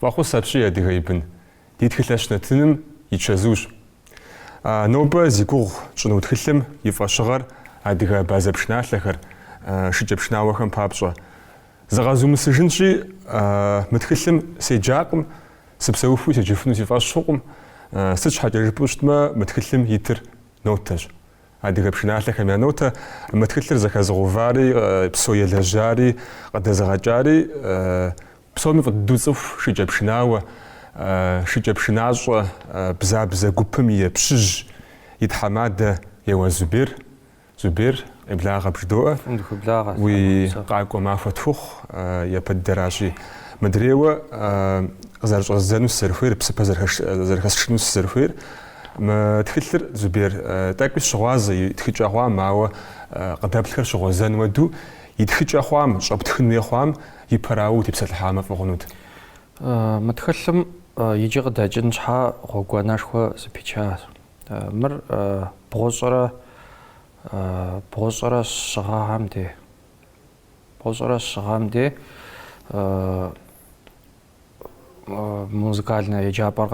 Фӏэхъус апщий, адыгэ и бын, ди Тхылъэщ нэтыным и чэзущ. Нобэ зи гугъу тщӏыну тхылъым и фӏэщыгъэр адыгэ абазэ пшыналъэхэр, шыкӏэпшынауэхэм папщӏэ. Зыгъэзумысыжынщи, мы тхылъым седжакъым Сыпсэухуи седжыфыну си фӏэщ хъукъым, сыт щхьэкӏэ жыпӏэу щытмэ, мы тхылъым итыр нотэщ. Адыгэ пшыналъэхэм я нотэ мы тхылъыр зэхэзыгъэувари, псо елэжьари, къыдэзыгъэкӏари, псоми фӏы дыдэу фцӏыху шыкӏэпшынауэ, шыкӏэпшынащӏэ Бзабзэ гупым и Пщыжь, и тхьэмадэ Еуаз Зубер, Зубер, еблагъэ бжыдоӏэ. Фӏым дыхуеблагъэ. Уи къакӏуэ махуэ тхухъу, япэ дыдэращи. Мыдрейуэ къызэрыщӏэздзэну сызэрыхуейр, псыпэ зэрыхэсшыну сызэрыхуейр. Мы тхылъыр, Зубер, тӏэкӏуи сщыгъуазэ, и тхыкӏэ хъуам, ауэ къыдэплъхэр щыгъуэзэн хуэду, и тхыкӏэ хъуам, щӏэптхын хуей хъуам, и пэрауэ утепсэлъыхьамэ фӏы хъунут. Мы тхылъым иджы къыдэкӏын щхьа гъуэгуанэшхуэ зэпичащ. Мыр бгъущӏрэ бгъущӏрэ щы гъэм де. Бгъущӏрэ щы гъэм де музыкальнэ еджапӏэр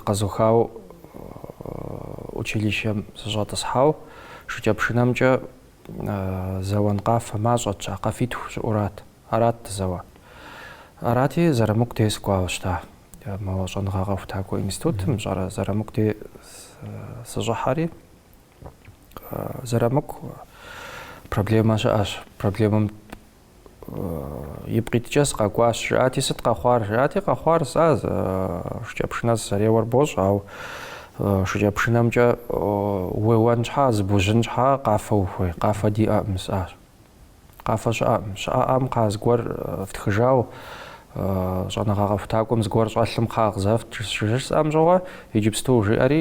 къэзухауэ училищэм сыщӏэтӏысхьау шыкӏэпшынэмкӏэ Зэуэн къафэ мащӏэт, щӏа, къафитху щыӏурат. Арат дызэуар. Арати, Зэрамыку дей сыкӏуауэ щыта мо щӏэныгъэ къэхутакӏуэ институтым, щӏэрэ, Зэрамыку дей сыщӏыхьэри, Зэрамыку, проблемэ щыӏэщ. Проблемэм Ипкъ иткӏэ сыкъэкӏуащ, жысӏати, сыт къэхъуар? Жиӏати, къэхъуар сэ шыкӏэпшынэ сызэреуэр бощӏ, ау шыкӏэпшынэмкӏэ уеуэн щхьа, зыбужьын щхьа къафэ ухуей? Къафэ диӏэкъым, сӏащ. Къафэ щыӏэкъым. Щыӏэӏэм кхъа зыгуэр фтхыжау, щӏэныгъэ къэхутакӏуэм зыгуэр щӏэлъым кхъа къызэфт, жысӏам щыгъуэ, иджыпсту, жиӏэри,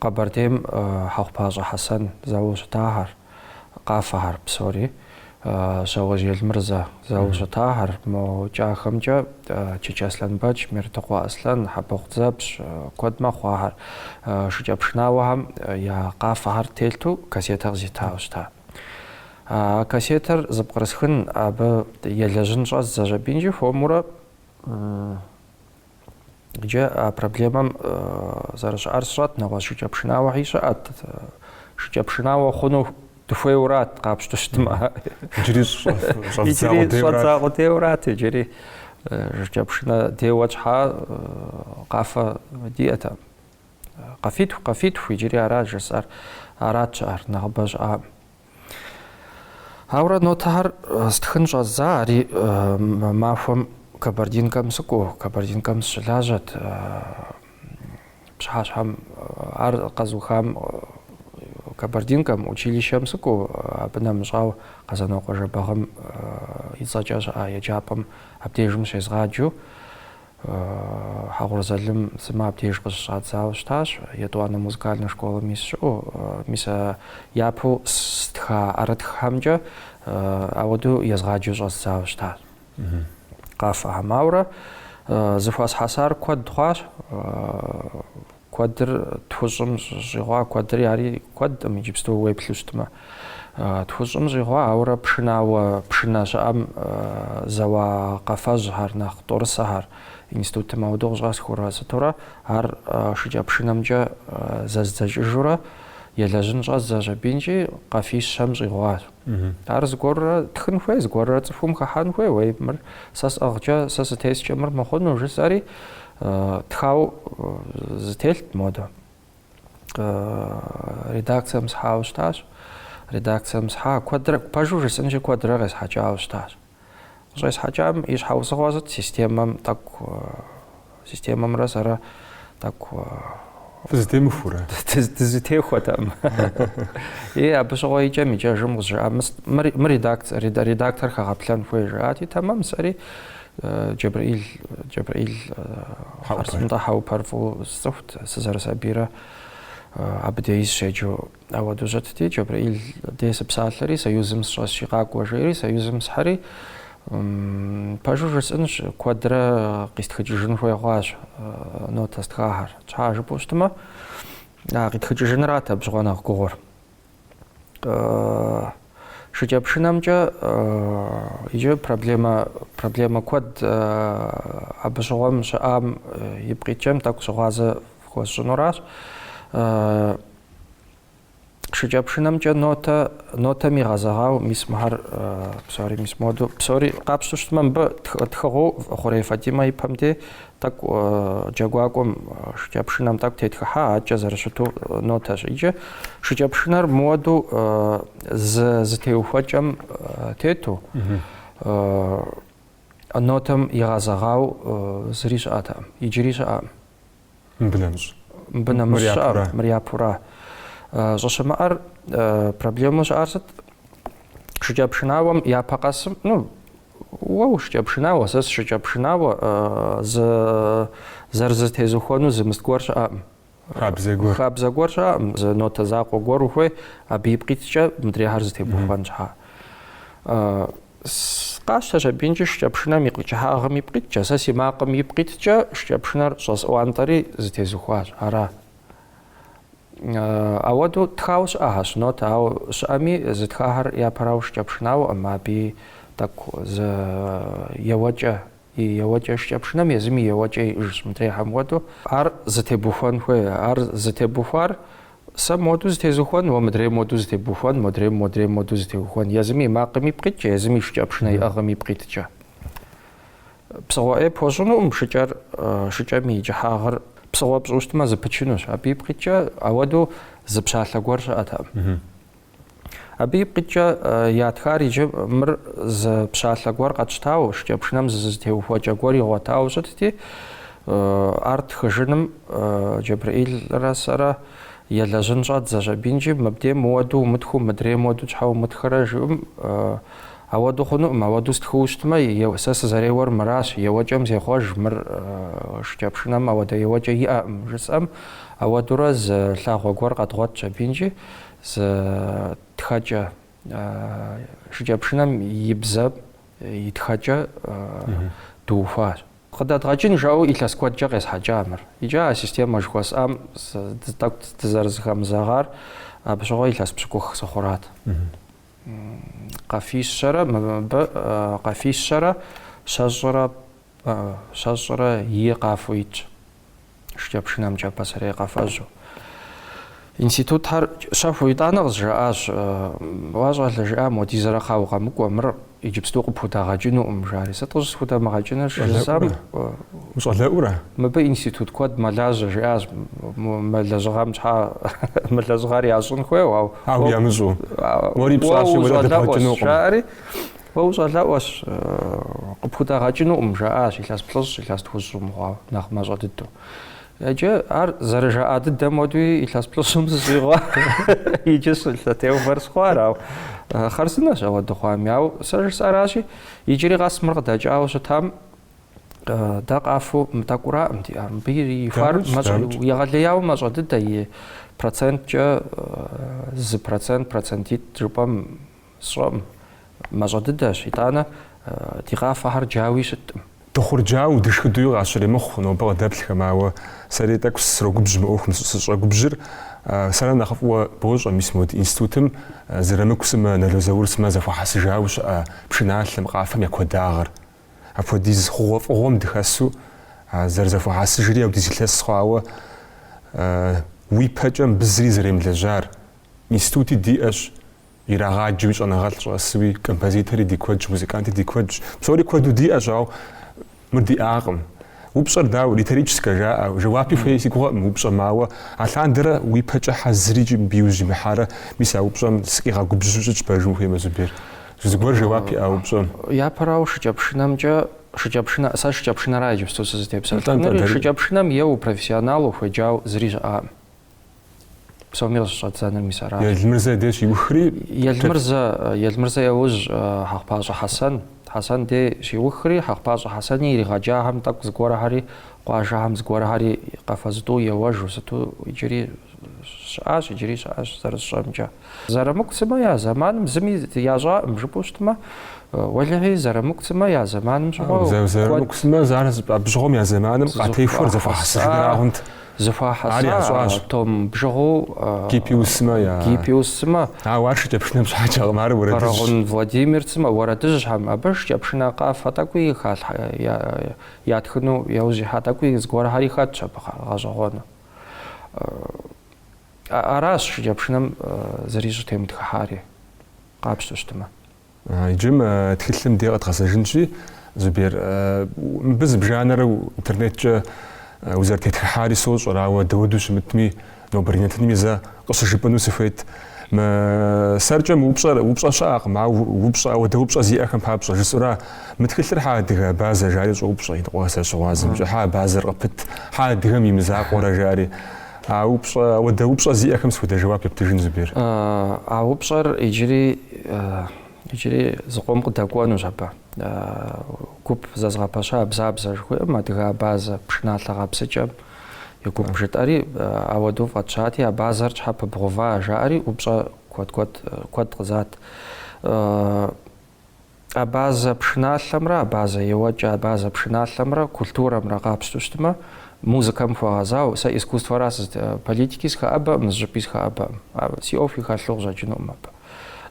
Къэбэрдейм Хьэхъупащӏэ Хьэсэн зэуэу щытахэр, къафэхэр псори, Щауэжь Елмырзэ зэуэу щытахэр, мо кӏахэмкӏэ Чычэ Аслъэнбэч, Мертыкъуэ Аслъэн, Хьэбэхъу Дзэпщ, куэд мэхъу ахэр, шыкӏэпшынауэхэм я къафэхэр телъу кассетэ къызитауэ щыта. А кассетэр зыпкърысхын, абы елэжьын щӏэздзащ аби икӏи хуэмурэ. Иджы а проблемэм зэрыщыӏэр сщӏэт, нэгъуэщӏ шыкӏэ пшынауэхьи щыӏэт. Шыкӏэ пшынауэ хъуну дыхуейурат, къапщту щытмэ. Иджыри щӏэддза къудейурат, иджыри шыкӏэ пшынэ деуэ тщхьа къафэ диӏэтэкъым. Къафитху, къафитху, иджыри арат жысӏэр, арат щыӏэр, нэхъыбэ щыӏам. Ауэрэ нотэхэр стхын щӏэздза, ари махуэм Кабардинкэм сыкӏуэу, Кабардинкэм сыщылажьэт, пщыхьэщхьэм ар къэзухам Кабардинкэм училищэм сыкӏуэу, абы нэмыщӏау Къэзанокъуэ Жэбагъым и цӏэкӏэ щыӏа еджапӏэм абдежым щезгъаджэу, Хьэгъур Залым сымэ абдеж къыщыщӏадзауэ щытащ, етӏуанэ музыкальнэ школэ мис щыӏэу. Мис а япэу стха ӏэрытххэмкӏэ ауэдэу езгъаджэу щӏэздзауэ щытащ. Къафэхэм ауэрэ зыхуэсхьэсар куэд хъуащ. Куэдыр тхущӏым щӏигъуа, куэдри ари куэдкъым иджыпсту уеплъу щытмэ. Тхущӏым щӏигъуа, ауэрэ пшынауэ пшынэ щыӏэм зэуа къэфэжьхэр, нэхъ тӏорысэхэр институтым ауэдэу къыщӏэсхыурэ сытурэ, ар шыкӏэ пшынэмкӏэ зэздзэкӏыжурэ, елэжьын щӏэздзэщ абымкӏи къафищэм щӏигъуащ. Ар зыгуэрурэ тхын хуей, зыгуэрурэ цӏыхум хыхьэн хуей, уей мыр сэ сӏыгъкӏэ, сэ сытескӏэ мыр мыхъуну, жысӏэри тхау зытелът модэ. Редакцием схьауэ щытащ. Редакцием схьа, куэдрэ, пэжу жысӏынщи, куэдрэ къесхьэкӏауэ щытащ. Къыщӏесхьэкӏам и щхьэусыгъуэ сыт системэм тӏэкӏу системэмрэ сэрэ тӏэкӏу Дызытемыхурэ? Дызытехуэтэкъым. И абы щыгъуэ икӏэм икӏэжым къызжаӏа мыр редактор хэгъэплъэн хуей жаӏати, тэмэм сэри Джэбрэил Джэбрэил, хъарзын тӏэ, Хьэупэр фӏыуэ сцӏыхут, сызэрысабийрэ абы деи сыщеджэу. Ауэдэу щытти, Джэбрэил дей сыпсалъэри, Союзым сыщӏэсщи къакӏуэ жери, Союзым схьэри, пэжу жысӏынщ, куэдрэ къистхыкӏыжын хуей хъуащ нотэ стхахэр. Тщхьа жыпӏэу щытмэ, къитхыкӏыжынрат абы щыгъуэ нэхъ гугъур. Шыкӏэпшынэмкӏэ иджы проблемэ, проблемэ куэд абы щыгъуэм щыӏам ипкъ иткӏэм тӏэкӏу щыгъуазэ хуэсщӏынуращ. Шыкӏэпшынэмкӏэ нотэ, нотэм игъэзэгъау мис мыхьэр псори мис моду, псори къапщту щытмэ, мыбы тхыгъэу Хъурей Фатимэ и пэм де тӏэкӏу джэгуакӏуэм шыкӏэпшынэм тӏэкӏу тетхыхьа, адэкӏэ зэрыщыту нотэщ. Иджы шыкӏэпшынэр мыуэду зытеухуэкӏэм тету нотэм игъэзэгъау зыри щыӏэтэкъым, иджыри щыӏэкъым. Мыбы нэмыщӏ. Мыбы нэмыщӏ щыӏэр, мыр япура. Щӏыщымыӏэр проблему щыӏар сыт? Шыкӏэпшынауэм япэ къэсым, ну, уэ ушыкӏэпшынауэ, сэ сышыкӏэпшынауэ, зы зэрызытезухуэну зы мыст гуэр щыӏэкъым. Хабзэ гуэр. Хабзэ гуэр щыӏэкъым, зы нотэ закъуэ гуэр ухуей, абы ипкъ иткӏэ мыдрейхэр зытебухуэн щхьа. Къащтэщ абинкӏи шыкӏэпшынэм и кӏыхьагъым ипкъ иткӏэ, сэ си макъым ипкъ иткӏэ шыкӏэпшынэр щӏэсӏуантӏэри зытезухуащ. Ара? Ауэду тхауэ щыӏэхьэщ нотэ, ауэ щыӏэми зытхахэр япэрауэ шыкӏэпшынауэкъым, абы тӏэкӏу зы еуэкӏэ и еуэкӏэ, шыкӏэпшынэм езым и еуэкӏэ иӏыжщ, мыдрейхэм хуэдэу, ар зытебухуэн хуей, ар зытебухуар сэ моду зытезухуэн, уэ мыдрей моду зытебухуэн, модрейм модрей моду зытеухуэн, езым и макъым ипкъ иткӏэ, езым и шыкӏэпшынэ иӏыгъым ипкъ иткӏэ. Псыгъуэ ӏей пхуэщӏынукъым шыкӏэр, шыкӏэм и кӏыхьагъыр псыгъуэ пщӏыу щытмэ зыпычынущ, абы ипкъ иткӏэ ауэду зы пщалъэ гуэр щыӏэтэкъым. Абы ипкъ иткӏэ ятхар иджы мыр зы пщалъэ гуэр къэтщтауэ, шыкӏэпшынэм зы зытеухуэкӏэ гуэр игъуэтауэ щытти, ар тхыжыным Джэбрыӏилрэ сэрэ елэжьын щӏэддзэщ абинкӏи, мыбдей мыуэду умытхыу, мыдрей мыуэду щхьэ умытхэрэ жиӏэм, ауэду хъунукъым, ауэду стхыу щытмэ, сэ сызэреуэр мыращ, еуэкӏэм зехъуэж, мыр шыкӏэпшынэм ауэдэ еуэкӏэ иӏэкъым, жысӏэм, ауэдурэ зы лъагъуэ гуэр къэдгъуэтщ абинкӏи, Зы тхэкӏэ шыкӏэпшынэм и бзэ, и тхэкӏэ дыухуащ. Къыдэдгъэкӏын жаӏэу илъэс куэдкӏэ къесхьэкӏа мыр. Икӏи а системэ жыхуэсӏам тӏэкӏу дызэрызыхэмызэгъар абы щыгъуэ илъэс пщыкӏух сыхъурат. Къафищэрэ мыбы къафищэрэ щэщӏрэ Щэщӏрэ и къафэу итщ шыкӏэпшынэмкӏэ пасэрей къэфэжьу. Институтхэр щэхуу итӏанэ къызжаӏащ, Уа щӏалэ, жиӏам, уэдизэрэ хъа укъэмыкӏуэ, мыр иджыпсту къыпхудагъэкӏынукъым, жари. Сыт къыщӏысхудамыгъэкӏынур щыжысӏэм, Ущӏалэӏурэ? Мыбы институт куэд мэлажьэ, жиӏащ, мы лэжьыгъэм щхьэ мы лэжьыгъэр ящӏын хуейуэ, ауэ. Ауэ ямыщӏу. Уэри пщӏащи, уэри къыдэбгъэкӏынукъым. Жаӏэри, Уэ ущӏалэӏуэщ, къыпхудагъэкӏынукъым, жаӏащ, илъэс плӏыщӏ, илъэс тхущӏ щӏумыгъуауэ, нэхъ мащӏэ дыдэу. Иджы ар зэрыжаӏа дыдэм уэдуи илъэс плӏыщӏым сыщӏигъуа, иджыщ лъэтеувэр схъуар, ауэ хъарзынэщ ауэдэ хъуами. Ауэ сэ жысӏаращи, иджыри къэс мыр къыдэкӏауэ щытам, дэ къафэу тӏэкӏураӏым диӏар. Мыбы ихуар егъэлеяуэ мащӏэ дыдэ, и проценткӏэ зы процент, процентитӏ жыпӏэм, Сщӏэкъым. Мащӏэ дыдэщ, итӏанэ ди къафэхэр джауи щыткъым. Дыхъурджауэ, дышхыдуи къащыремыхъу нобэ къыдэплъхэм, ауэ сэри тӏэкӏу срогубжь мы ӏуэхум. Сыщӏэгубжьыр сэрэ нэхъ фӏыуэ бощӏэ, мис мо ди институтым Зырамыку сымэ, Нало Заур сымэ зэхуэхьэсыжауэ щыӏэ пшыналъэм, къафэм я куэдагъыр. Апхуэдиз хъугъуэфӏыгъуэм дыхэсу зэрызэхуэхьэсыжри аудиз илъэс хъуауэ, уи пэкӏэ мыбы зыри зэремылэжьар, институти диӏэщ, Ирагъаджэуи щӏэныгъэлӏ щӏэсуи, композитори ди куэдщ, музыканти ди куэдщ. Псори куэду диӏэщ, ауэ мыр диӏакъым. Упщӏэр дауэ, риторическэ жаӏэ? Жэуапи хуей си гугъэкъым упщӏэм, ауэ алъандэрэ уи пэкӏэ хьэ зырикӏ мыбы иужь имыхьарэ, мис а упщӏэм сыкъигъэгубжьу щытщ пэжым ухуеймэ, Зубер. Зыгуэр жэуап иӏэ а упщӏэм. Япэрауэ, шыкӏэпшынэмкӏэ, шыкӏэпшынэ, сэ шыкӏэпшынэра иджыпсту сызытепсэлъыхьынури, шыкӏэпшынэм еуэу профессионалу хуеджау зыри щыӏэкъым. псоми къыщыщӏэддзэныр мис аращ. Елмырзэ дей щиухри? Елмырзэ, Елмырзэ яужь Хьэхъупащӏэ Хьэсэн. Хьэсэн дей щиухри, Хьэхъупащӏэ Хьэсэни иригъэджахэм тӏэкӏу зыгуэрхэри, къуажэхэм зыгуэрхэри къафэ зытӏу еуэжу сыту иджыри щыӏащ, иджыри щыӏэщ зэрысщӏэмкӏэ. Зырамыку сымэ я зэманым зыми ящӏаӏым, жыпӏэу щытмэ, уэлэхьи, Зырамыку сымэ я зэманым щыгъуэ куэд. Зырамыку сымэ ар зыпӏэбжьыгъуэм я зэманым къатехуэр зэхуэхьэсыжынрагъэнт. Зэхуахьэса. Ар ящӏащ. Том бжыгъэу. Гиппиус сымэ я. Гиппиус сымэ. Ауэ ар шыкӏэпшынэм щхьэкӏэкъым, ар уэрэдыжьщ. Бэрэгъун Владимир сымэ, уэрэдыжьхэм, абы шыкӏэпшынэ къафэ тӏэкӏуи ятхыну, яужь ихьа тӏэкӏуи зыгуэрхьэри хэтщ абы гъэщӏэгъуэну. Аращ шыкӏэпшынэм зыри щӏытемытхыхьари, къапщтэу щытмэ. Иджы мы тхылъым де къэдгъэзэжынщи, Зубер, мыбы зыбжанэрэ интернеткӏэ узэрытетхыхьари сощӏэр, ауэ дауэду щымытми, нобэрей нэтынми зэ къыщыжыпӏыну сыхуейт. Мы сэркӏэ мы упщӏэр упщӏэ щыӏэкъым, ауэ упщӏэ, ауэдэ упщӏэ зиӏэхэм папщӏэ, жысӏэура, мы тхылъыр хьэ адыгэ абазэ, жари щӏоупщӏэ иныкъуэхэр, сызыщыгъуазэмкӏэ, хьэ абазэр къыпыт, хьэ адыгэм и мызакъуэрэ, жари. А упщӏэ, ауэдэ упщӏэ зиӏэхэм сыт хуэдэ жэуап ептыжын, Зубер? А упщӏэр иджыри, иджыри зыкъом къыдэкӏуэнущ абы. Гуп зэзгъэпэща Бзабзэ жыхуиӏэм, адыгэ абазэ, пшыналъэ гъэпсыкӏэм и гуп жытӏэри, ауэдэу фӏэтщати, абазэр щхьэ пыбгъува, жаӏэри, упщӏэ куэд-куэд, куэд къызат. Абазэ пшыналъэмрэ абазэ еуэкӏэ абазэ пшыналъэмрэ культурэмрэ къапщту щытмэ, музыкэм хуэгъэзауэ, сэ искусствэра сызыт, политики сыхэӏэбэкъым, зыщӏыпӏи сыхэӏэбэкъым. Си ӏуэхуи хэлъу къыщӏэкӏынукъым абы.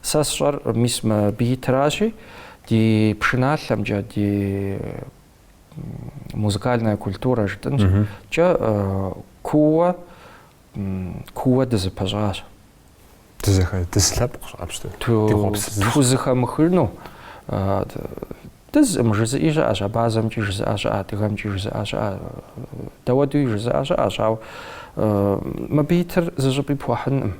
Сэ сщӏэр мис мыбы итращи, ди пшыналъэмкӏэ, ди музыкальная культура жытӏэнщ, кӏэ куууэ Куууэ дызыпэщӏащ. Дызэхэ, дызылъэпкъщ къапщтэм? Ди хъуэпс зы. Тхузыхэмыхыну, дызкъым жызыӏи щыӏэщ, абазэмкӏи жызыӏэ щыӏэ, адыгэмкӏи жызыӏэ щыӏэ, дауэдуи жызыӏэ щыӏэщ, ауэ мыбы итыр зыщӏыпӏи пхуэхьынкъым.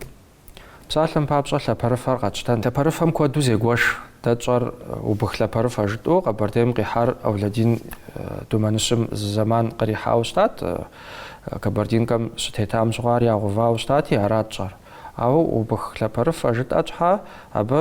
Псалъэм папщӏэ, лъапэрыфэр къэтщтэн. Лъапэрыфэм куэду зегуэш. Дэ тщӏэр убых лъапэрыфэ жытӏэу Къэбэрдейм къихьар Ауладин Думэныщым зы зэман кърихьауэ щытат, Кабардинкэм щытетам щыгъуэ ар ягъэувауэ щытати, арат тщӏэр. Ауэ убых лъапэрыфэ жытӏэ щхьэ, абы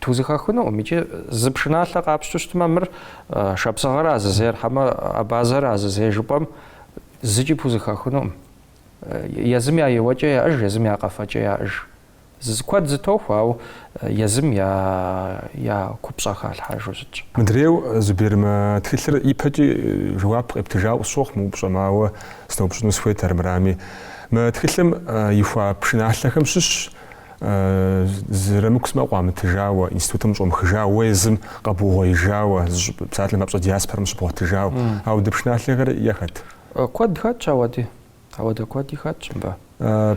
Тхузыхэхынукъым икӏи зы пшыналъэ къапщту щытмэ, мыр шапсыгъэра зызейр хьэмэ абазэра зызейр жыпӏэм зыкӏи пхузыхэхынукъым. Езым я еуэкӏэ яӏыж, езым я къэфэкӏэ яӏыж. Куэд зытохуэ, ауэ езым я купщӏэ халъхьэжу щытщ. Мыдрейу Зубер мы тхылъыр ипэкӏи жэуап къептыжауэ къысщохъу мы упщӏэм, ауэ сыноупщӏыну сыхуейт армырами. Мы тхылъым ихуа пшыналъэхэм щыщ, Зырамыку сымэ къуамытыжауэ, институтым щӏумыхыжауэ, езым къэбугъуеижауэ, зыщӏыпӏэ псалъэм папщӏэ диаспорэм щыбгъуэтыжауэ. Ауэдэ пшыналъэхэр яхэт? Куэд хэтщ ауэди. Ауэдэ куэди хэтщ мыбы.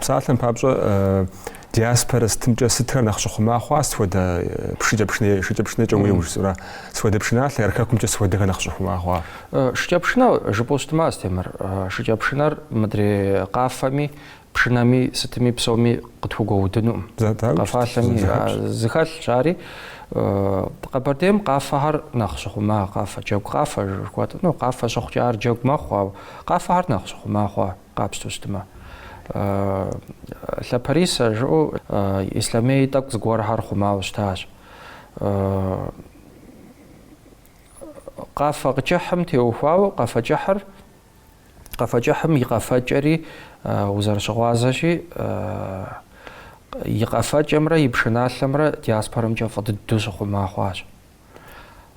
Псалъэм папщӏэ диаспорэ сытымкӏэ сытхэр нэхъ щыхъума хъуа сытхуэдэ пшыкӏэпшынэ, шыкӏэпшынэкӏэ уеуэу жысӏэра? Сытхуэдэ пшыналъэ, хэкумкӏэ сытхуэдэхэр нэхъ щыхъума хъуа? Шыкӏэпшынэ жыпӏэу щытмэ, Астемыр, шыкӏэпшынэр мыдрей къафэми Пшынэми, сытми, псоми къытхугуэудынукъым. Къэфалъэми зыхэлъщ ари. Къэбэрдейм къафэхэр нэхъ щыхъума, къафэ, джэгу къафэ жыхуэтӏ. Ну, къафэ щыхъукӏэ ар джэгу мэхъу, ауэ къафэхэр нэхъ щыхъума хъуа, къапщту щытмэ. Лъапэрисэ жыӏэу Ислъэмей тӏэкӏу зыгуэрхэр хъумауэ щытащ. Къафэ кӏыхьым теухуауэ, къафэ кӏыхьыр Къэфэкӏыхьым и къэфэкӏэри узэрыщыгъуазэщи, и къэфэкӏэмрэ и пшыналъэмрэ диаспорэмкӏэ фӏы дыдэу щыхъума хъуащ.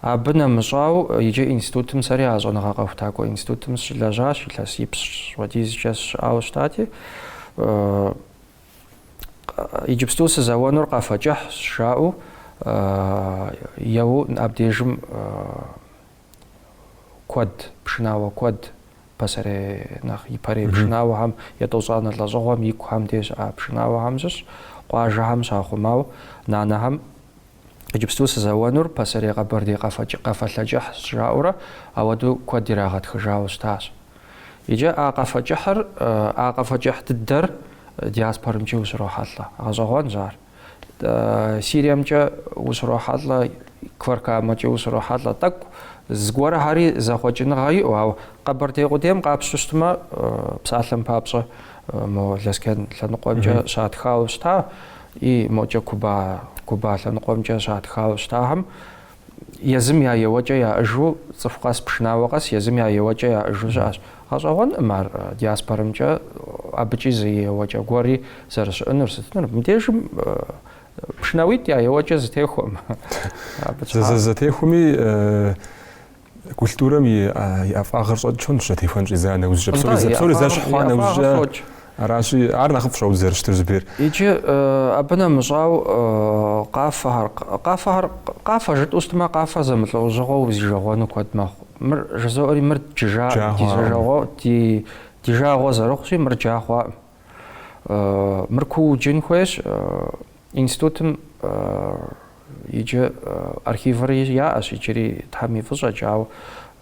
Абы нэмыщӏауэ иджы институтым сэри а щӏэныгъэ къэхутакӏуэ институтым сыщылэжьащ, илъэс ипщӏ хуэдизкӏэ сыщыӏауэ щытати, иджыпсту сызэуэнур къэфэкӏыхьщ жаӏэу еуэу абдежым куэд, пшынауэ куэд, пасэрей нэхъ ипэрей пшынауэхэм етӏощӏанэ лӏэщӏыгъуэм и кухэм де щыӏа пшынауэхэм щыщ, къуажэхэм щахъумауэ нанэхэм иджыпсту сызэуэнур пасэрей къэбэрдей къафэлъэ кӏыхь жаӏэурэ ауэдэу куэд ирагъэтхыжауэ щытащ. Иджы а къафэ кӏыхьыр, а къафэ кӏыхь дыдэр диаспорэмкӏи ущрохьэлӏэ. Гъэщӏэгъуэнщ ар. Сириемкӏэ ущрохьэлӏэ, Кфар-Камэкӏэ ущрохьэлӏэ. Тӏэкӏу зыгуэрхэри зэхъуэкӏыныгъэ иӏэу, ауэ Къэбэрдей къудейм къапщтэу щытмэ, псалъэм папщӏэ, мо Лэскен лъэныкъуэмкӏэ щатхауэ щыта, и мокӏэ Куба, Куба лъэныкъуэмкӏэ щатхауэ щытахэм, Езым я еуэкӏэ яӏыжу цӏыху къэс, пшынауэ къэс езым я еуэкӏэ яӏыжу щыӏэщ. Гъэщӏэгъуэнкъым ар диаспорэмкӏэ абыкӏи зы еуэкӏэ гуэри зэрыщыӏэнур, сытынур. Мыбдежым пшынауитӏ я еуэкӏэ зэтехуэкъым. Зэтехуэми культурэм и ӏэфӏагъыр щӏэкӏынущ зэтехуэн щӏидза нэужькӏэ. Псори зэ- псори зэщхь хъуа нэужькӏэ. Аращи, ар нэхъыфӏщ ауэду зэрыщытыр зэрыбейр. Иджы абы нэмыщӏауэ къафэхэр, къафэхэр, къафэ жытӏэу щытмэ, къафэ зэмылӏэужьыгъуэу узижэгъуэну куэд мэхъу. Мыр жызоӏэри, мыр джы- джа, ди жагъуэ, ди жагъуэ зэрыхъущи, мыр джа хъуакъым. Э, Мыр куууэ джын хуейщ. э, Институтым э, иджы э, архивыр яӏэщ иджыри Тхьэм и фӏыщӏэкӏэ, ауэ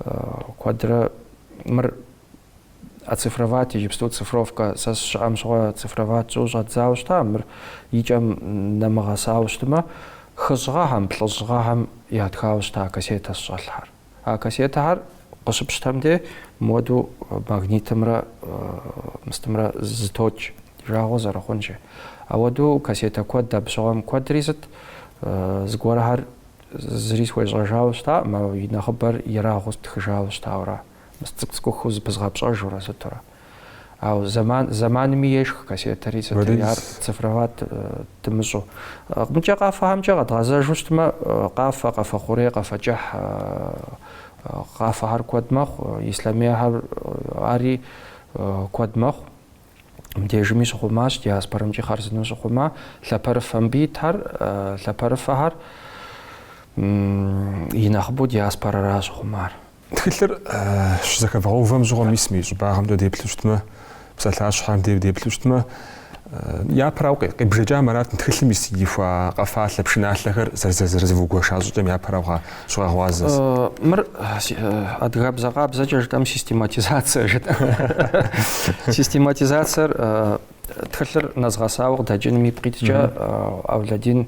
э, куэдрэ мыр оцифровать, иджыпсту цифровкэ сэ сыщыӏэм щыгъуэ цифровать сщӏу щӏэздзауэ щыта, мыр и кӏэм нэмыгъэсауэ щытмэ, хыщӏ гъэхэм, блыщӏ гъэхэм ятхауэ щыта кассетэщ щӏэлъхэр. А кассетэхэр къыщыпщтэм де моду магнитымрэ мы сытымрэ зэтокӏ, ди жагъуэ зэрыхъунщи. Ауэду кассетэ куэд абы щыгъуэм куэдри сыт, зыгуэрхэр зыри схуещӏэжауэ щытаӏым, ауэ и нэхъыбэр ерагъыу стхыжауэ щытауэ ара. Мы цӏыкӏу-цӏыкӏухэу зэпызгъэпщӏэжурэ сытурэ. Ауэ зэман, зэманми ешх кассетэри сытри, ар цифровать дымыщӏу. Мыкӏэ къафэхэмкӏэ къэдгъэзэжу щытмэ, къафэ, къафэ хъурей, къафэ кӏыхь, къафэхэр куэд мэхъу, ислъэмейхэр ари куэд мэхъу. Мыдежми щыхъумащ, диаспорэмкӏи хъарзынэу щыхъума, лъапэрыфэ мыбы итхэр, лъапэрыфэхэр и нэхъыбэу диаспорэращ щыхъумар. Тхылъыр щызэхэвгъэувэм щыгъуэ мис мы и щӏыбагъымкӏэ деплъу щытмэ, псалъащхьэм де деплъу щытмэ, япэрауэ къи- къибжэкӏамэ арат тхылъым ис ихуа къэфалъэ пшыналъэхэр зэрызэ- зэрызывугуэша щӏыкӏэм япэрауэ гъа- щыгъэгъуазэ. Э, Мыр э, си- э, адыгабзэ къабзэкӏэ жытӏэм систематизацие жыт. Систематизациер э, тхылъыр нэзгъэсауэ къыдэкӏыным ипкъ иткӏэ э, Аулэдин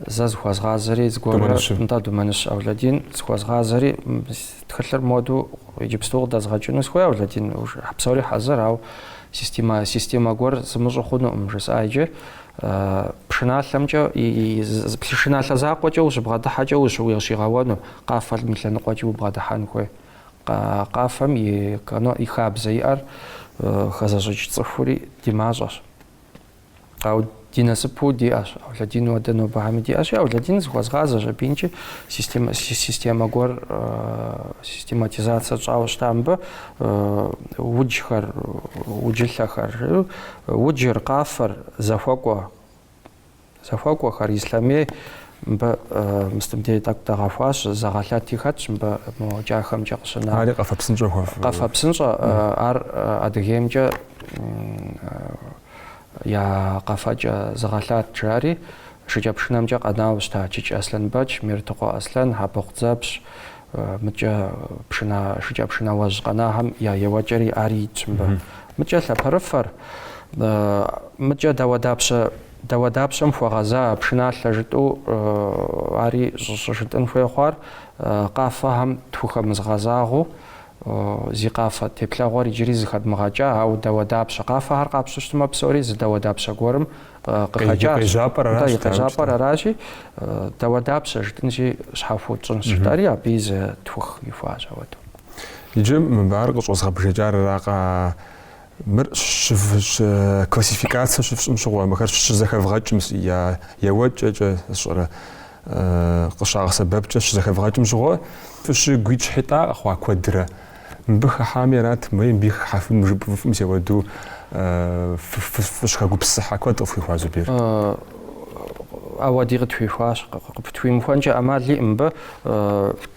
Зэ зыхуэзгъазэри зыгуэрурэ. Думэныщэ. Нтӏэ, Думэныщ Аулэдин. Зыхуэзгъазэри тхылъыр моду иджыпсту къыдэзгъэкӏыну сыхуей, Аулэдин. Псори хьэзыр, ауэ системэ, системэ гуэр сымыщӏу хъунукъым, жысӏа иджы. Пшыналъэмкӏэ, пшыналъэ закъуэкӏэ ущыбгъэдыхьэкӏэ ущи ущигъэуэну, къафэм и лъэныкъуэкӏи убгъэдыхьэн хуей. Къафэм и, и хабзэ иӏэр хэзыщӏыкӏ цӏыхури ди мащӏэщ. Ауэ ди насыпу диӏэщ, Аулэдин ауэдэ нобэхэми диӏэщи, Аулэдин зыхуэзгъазэщ аби икӏи системэ системэ гуэр систематизацэ тщӏауэ щыта мыбы уджхэр, уджылъэхэр, уджыр, къафэр, зэхуэкӏуэ, зэхуэкӏуэхэр, ислъэмей мыбы мыстыбдей тӏэкӏу дэгъэхуащ, зыгъэлъэти хэтщ мыбы мо Кӏахэмкӏэ къыщына. Ари къафэ псынщӏэ хуэф. Къафэ псынщӏэ ар Адыгеймкӏэ я къэфэкӏэ зыгъэлъат, жари, шыкӏэпшынэмкӏэ къэнауэ щыта Чыч Аслъэнбэч, Мертыкъуэ Аслъэн, Хьэпыкъу Дзэпщ, мыкӏэ пшына шыкӏэпшынауэжь къэнахэм я еуэкӏэри ари итщ мыбы. Мыкӏэ лъэпэрыфэр, мыкӏэ дауэдапщэ дауэдапщэм хуэгъэза пшыналъэ жытӏэу ари щӏыжытӏын хуей хъуар, къафэхэм тхухэмызгъэзагъэу Зи къафэ теплъэгъуэр иджыри зыхэдмыгъэкӏа, ауэ дауэдапщэ, къафэхэр къапщтэу щытмэ, псори зы дауэдапщэ гуэрым къыхэкӏащ. Къежьапӏэр аращ. Атӏэ, и къежьапӏэр аращи, дауэдапщэ жытӏынщи, щхьэхуэу тщӏынщ жытӏэри абыи зытхух ихуащ ауэдэу. Иджы мыбы ар къыщӏэзгъэбжэкӏар аракъэ, Мыр классификацэ щыфщӏым щыгъуэ, мыхэр щызэхэвгъэкӏым я еуэкӏэкӏэ сщӏэрэ къыщагъэсэбэпкӏэ щызэхэвгъэкӏым щыгъуэ, фыщыгуитӏщхьитӏа къэхъуа куэдрэ мыбы хыхьами арат, мы мыбы хыхьэфын жыпӏыфӏым сеуэду фыщыхэгупсысыхьа куэд къыфхуихуа Зубер? Ауэди къытхуихуащ, къытхуимыхуэнкӏэ ӏэмал иӏэ мыбы.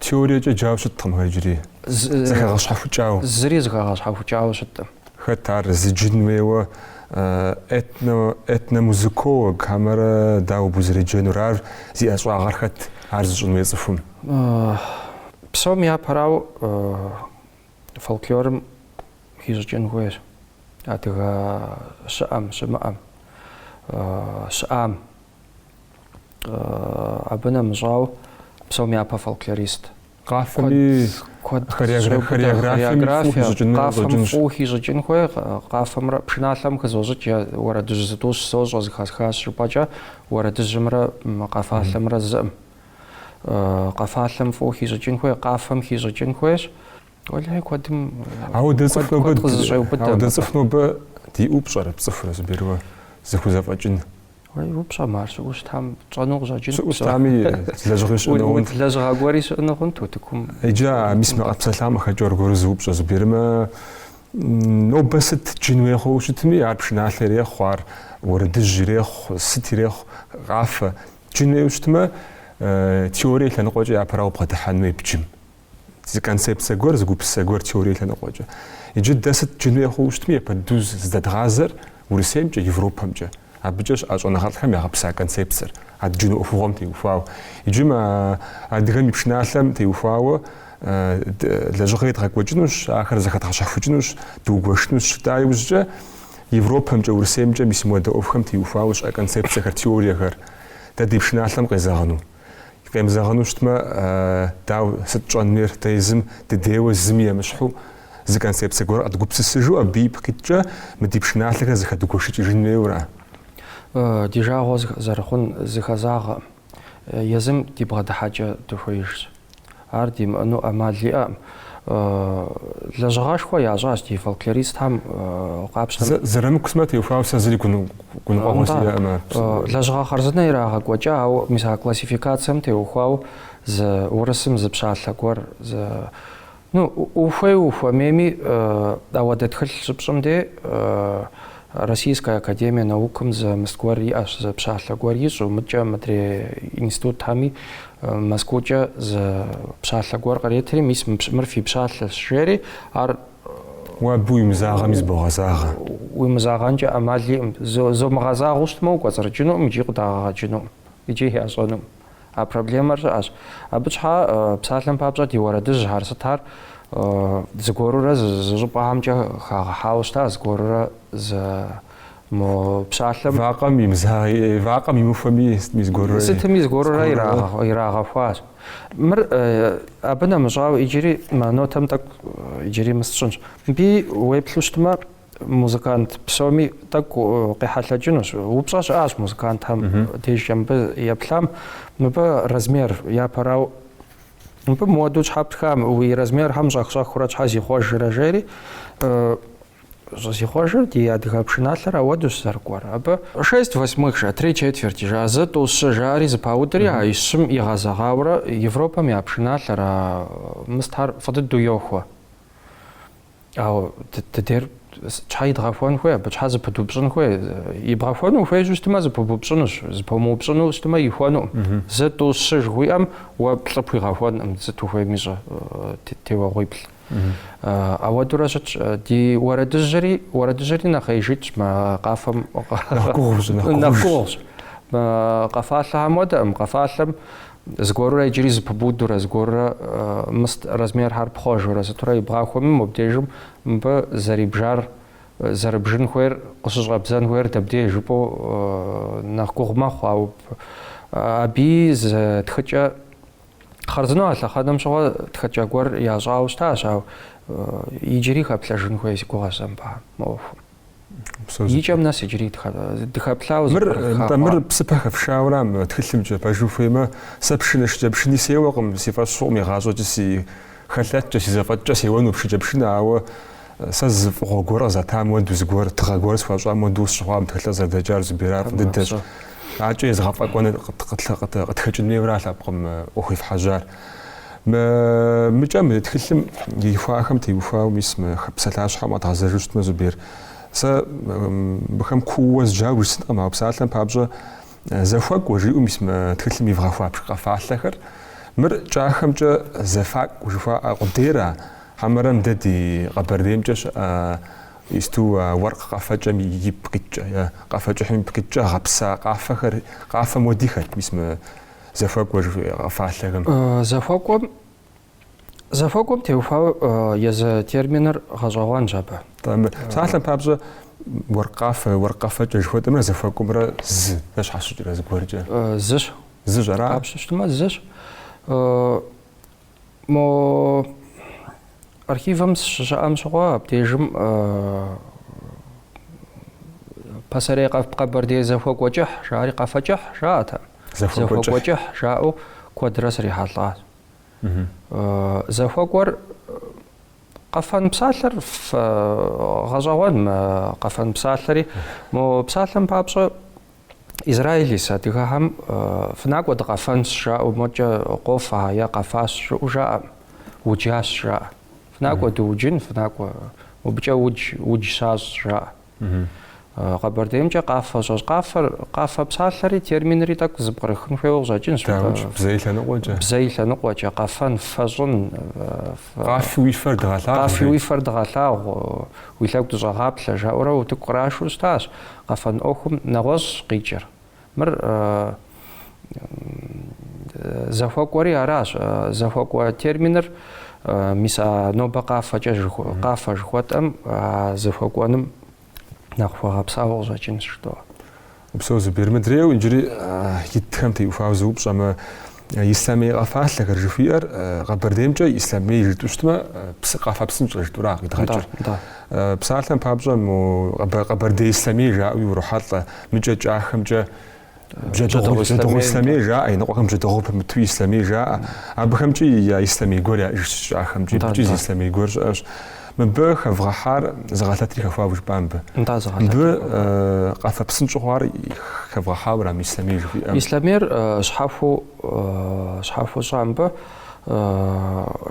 Теориекӏэ джауэ щыткъым ар иджыри, зэхэгъэщхьэхукӏауэ. Зыри зыхэгъэщхьэхукӏауэ щыткъым. Хэт ар зыджын хуейуэ, этно, этномузыколог хэмэрэ дауэ абы узэреджэнур, ар зи ӏэщӏагъэр хэт, ар зыщӏын хуей цӏыхум? Псом япэрауэ фольклорым хищӏыкӏын хуейщ, адыгэ щыӏэм, щымыӏэм, щыӏам. абы нэмыщӏауэ псом япэ фольклорист. Къафэми хореографием къафэм фӏу хищӏыкӏын хуей, къафэмрэ пшыналъэм хызощӏыкӏ я уэрэдыжь зытӏущ сощӏэ зыхэсхащ жыпӏэкӏэ уэрэдыжьымрэ къафалъэмрэ зыӏым. Къафалъэм фӏу хищӏыкӏын хуей, къафэм хищӏыкӏын хуейщ. Уэлэхьи куэдым куэд къызыщӏеубыдэ. Ауэдэ цӏыху нобэ диӏэу пщӏэрэ, пцӏыхурэ Зубер, уэ зыхузэфӏэкӏын. Уей, упщӏэмэ, ар щыӏэу щытам тщӏэну къыщӏэкӏынт. Щыӏэу щытами, лэжьыгъи щыӏэну хъунт, лэжьыгъэ гуэри щыӏэну хъунт утыкум. Иджы а мис мы къэтпсэлъам къыхэкӏыу аргуэру зы упщӏэ зыбжермэ, нобэ сыт джын уей хъууэ щытми, ар пшыналъэ ирехъу, ар уэрэдыжь ирехъу, сыт ирехъу, къафэ. Джын уейуэ щытмэ, теорие лъэныкъуэкӏэ япэрауэ убгъэдыхьэн хуей бджым. Зы концепцэ гуэр, зы гупсысэ гуэр теорие лъэныкъуэкӏэ. Иджы дэ сыт джын уей хъууэ щытми, япэ дыдэу зыздэдгъазэр Урысеймкӏэ, Европэмкӏэ. Абыкӏэ щыӏэ щӏэныгъэлӏхэм ягъэпса концепцэр, а дджыну ӏуэхугъуэм теухуауэ. Иджы мы адыгэм и пшыналъэм теухуауэ лэжьыгъэ едгъэкӏуэкӏынущ, ахэр зэхэдгъэщэхукӏынущ, дугуэшынущ жытӏа иужькӏэ Европэмкӏэ, Урысеймкӏэ мис мыуэдэ ӏуэхухэм теухуауэ щыӏэ концепцэхэр, теориехэр дэ ди пшыналъэм къезэгъыну. Къемызэгъыну щытмэ, дау, сыт тщӏэн хуейр, дэ езым дыдейуэ зыми емыщхьу, зы концепцэ гуэр къэдгупсысыжу абы ипкъ иткӏэ мы ди пшыналъэхэр зэхэдгуэшыкӏыжын хуейуэра? Ди жагъуэ зэрыхъун зыхэзагъэкъым. Езым ди бгъэдыхьэкӏэ дыхуеижщ. Ар димыӏэну ӏэмал иӏэкъым. Лэжьыгъэшхуэ ящӏащ ди фольклористхэм къапщтэм. Зырамыку сымэ теухуауэ сэ зыри гуныкъуэгъуэ сиӏэкъым ар. Лэжьыгъэ хъарзынэ ирагъэкӏуэкӏа, ауэ мис а классификацэм теухуауэ зы урысым зы пщалъэ гуэр, зы, ну, ухуей-ухуэмейми ауэдэ тхылъ щыпщӏым де, Российская академия наукым зы мыст гуэр иӏэщ, зы пщалъэ гуэр ищӏу, мыдкӏэ мыдрей институтхэми Москвукӏэ зы пщалъэ гуэр къретри, мис мыр фи пщалъэщ, жери, ар уэ абы уимызагъэми зыбогъэзагъэ. Уимызагъэнкӏэ ӏэмал иӏым. Зо, зомыгъэзагъэу щытмэ, укӏуэцӏрыкӏынукъым икӏи къыдагъэгъэкӏынукъым, икӏи ящӏэнукъым. А проблемэр щыӏэщ. Абы щхьа псалъэм папщӏэ ди уэрэдыжьхэр сытхэр зыгуэрурэ зы щӏыпӏэхэмкӏэ хагъэхьауэ щыта, зыгуэрурэ зы мо псалъэм. Вакъэм вакъэм имыхуэми, сытми зыгуэрурэ. Сытми зыгуэрурэ ирагъэхуащ. Мыр абы нэмыщӏауэ иджыри нотэм тӏэкӏу иджыри мыст сщӏынщ. Мыбы уеплъу щытмэ. музыкант псоми тӏэкӏу къехьэлъэкӏынущ. Упщӏэ щыӏащ музыкантхэм дежкӏэ мыбы еплъам. Мыбы размер япэрау мыбы мыуэду щхьэ птха, мы уи размерхэм щӏэх-щӏэхыурэ щхьэ зихъуэжрэ жери, зихъуэжыр ди адыгэ пшыналъэр ауэдущ зэрыкӏуэр. Абы шесть восьмых жа, три четверти жа, зы тӏу щы жари зэпаудри, а и щым игъэзэгъауэрэ Европэм я пшыналъэр, а мыстхэр фӏы дыдэу йохуэ. Ауэ дыдейр щхьэ идгъэхуэн хуей, абы щхьэ зыпыдупщӏын хуей? Ибгъэхуэну ухуеижу щытмэ, зыпыбупщӏынущ, зыпомыупщӏыну щытмэ, ихуэнукъым. Зы тӏу щы жыхуиӏэм уэ плӏы пхуигъэхуэнкъым, сыт ухуейми щӏэ, теуэгъуиплӏ. Ауэдурэ щытщ. Ди уэрэдыжьри, уэрэдыжьри нэхъеижитщ мы къафэм. Нэхъ гугъущ, нэхъ гугъущ. Къэфалъэхэм уэдэкъым, къэфалъэм Зыгуэрурэ иджыри зыпыбудурэ, зыгуэрурэ мыст размерхэр пхъуэжурэ сытурэ ибгъахуэми, мобдежым мыбы зэрибжар, зэрыбжын хуейр, къыщыщӏэбдзэн хуейр дэбдей жыпӏэу нэхъ гугъу мэхъу, ауэ аби зы тхыкӏэ хъарзынэу а лъэхъэнэм щыгъуэ тхыкӏэ гуэр ящӏауэ щытащ, ауэ иджыри хэплъэжын хуей си гугъэ сэ мыбыхэм, мы ӏуэхум. И кӏэм нэс иджыри дыхэплъауэ зыпкърыххахъуар. Мыр псыпэ хэфшауэра мы тхылъымкӏэ пэж ухуеймэ, сэ пшынэ шыкӏэпшыни сеуэкъым, си фӏэщ хъукъым игъащӏэкӏи си хэлъэткӏэ, си зэфӏэкӏкӏэ сеуэну шыкӏэпшынэ, ауэ сэ зы фӏыгъуэ гуэр къызэтам уэду, зы гуэр, тыгъэ гуэр схуащӏам уэду сщыхъуакъым тхылъыр зэрыдэкӏар Зубер, ар дыдэщ. Акӏэ езыгъэфӏэкӏуэну къытхэкӏын хуейуэра лъэпкъым ӏуэху ефхьэжьар. Мы мыкӏэ мы тхылъым ихуахэм теухуауэ мис мы псалъащхьэм къэдгъэзэжу щытмэ, Зубер, сэ абыхэм куууэ зджауэ жысӏэнкъым, ауэ псалъэм папщӏэ зэхуэкӏуэ, жиӏэу мис мы тхылъым ивгъэхуащ къэфалъэхэр. Мыр кӏахэмкӏэ зэфакӏуэ жыхуаӏэ къудейра, хьэмэрэ мыдэ ди Къэбэрдеймкӏэ щыӏэ Исту уэркъ къэфэкӏэм ипкъ иткӏэ е къэфэкӏыхьым ипкъ иткӏэ гъэпса къафэхэр, къафэм уэдихэт мис мы Зэхуэкӏуэ жыхуиӏэ къэфалъэхэм. Зэхуэкӏуэм зэхуэкӏуэм теухуауэ езы терминыр гъэщӏэгъуэнщ абы. Псалъэм папщӏэ уэркъ къафэ, уэркъ къэфэкӏэ жыхуэтӏэмрэ зэхуэкӏуэмрэ зы, зэщхьэщыкӏрэ зыгуэркӏэ. Зыщ. Зыщ ара? Къапщтэу щытмэ зыщ. Мо архивым сыщыщыӏэм щыгъуэ абдежым пасэрей къэбэрдей зэхуэкӏуэкӏыхь жари къэфэкӏыхь жаӏэтэм. Зэхуэкӏуэкӏыхь жаӏэу куэдрэ срихьэлӏащ. Зэхуэкӏуэр къэфэн псалъэр гъэщӏэгъуэн мы къэфэн псалъэри. Мо псалъэм папщӏэ Израиль ис адыгэхэм фынакӏуэ дыкъэфэнщ жаӏэу модкӏэ къофэ е къэфащ жаӏэу жаӏэ, уджащ жаӏэ. Фынакӏуэ дыуджын, фынакӏуэ мыбыкӏэ удж, удж щащӏ жаӏэ. Къэбэрдеймкӏэ къафэ щӏэщ. Къафэр, къафэ псалъэри, терминри тӏэкӏу зыпкърыхын хуейуэ къыщӏэкӏынщ. Даукӏ, бзэ и лъэныкъуэкӏэ. Бзэ и лъэныкъуэкӏэ, къэфэн, фэщӏын. Къафи уи фэр дыгъэлъагъу. Къафи уи фэр дыгъэлъагъу, уи лъэгу дыщӏэгъаплъэ, жаӏэурэ утыку кърашэу щытащ. Къэфэн ӏуэхум нэгъуэщӏщ къикӏыр. Мыр зэхуэкӏуэри аращ. Зэхуэкӏуэ терминыр, мис а нобэ къафэкӏэ, къафэ жыхуэтӏэм, а зэхуэкӏуэным нэхъ хуэгъэпсауэ къыщӏэкӏынщ, жытӏэуэ. Упсэу Зубер, мыдрейуэ иджыри итхэм теухуауэ сыупщӏэмэ, Ислъэмей къэфалъэхэр жыхуиӏэр Къэбэрдеймкӏэ Ислъэмей жытӏу щытмэ, псы къафэ псынщӏэ жытӏура къидгъэкӏыр. Псалъэм папщӏэ мо Къэбэрдей Ислъэмей жаӏэуи урохьэлӏэ, мыкӏэ кӏахэмкӏэ бжьэдыгъу Ислъэмей жаӏэ, иныкъуэхэм бжьэдыгъу пымыту Ислъэмей жаӏэ. Абыхэмкӏи я Ислъэмей гуэр яӏыжщ, кӏахэмкӏи икӏи зы Ислъэмей гуэр щыӏэщ. Мыбы хэвгъэхьар зыгъэлъэтри хэхуауэ жыпӏа мыбы? Нтӏэ, зыгъэлъэтри. Мыбы къафэ псынщӏу хъуар хэвгъэхьауэ ара Ислъэмей жыхуиӏэм? Ислъэмейр щхьэхуэу щхьэхуэу щӏа мыбы?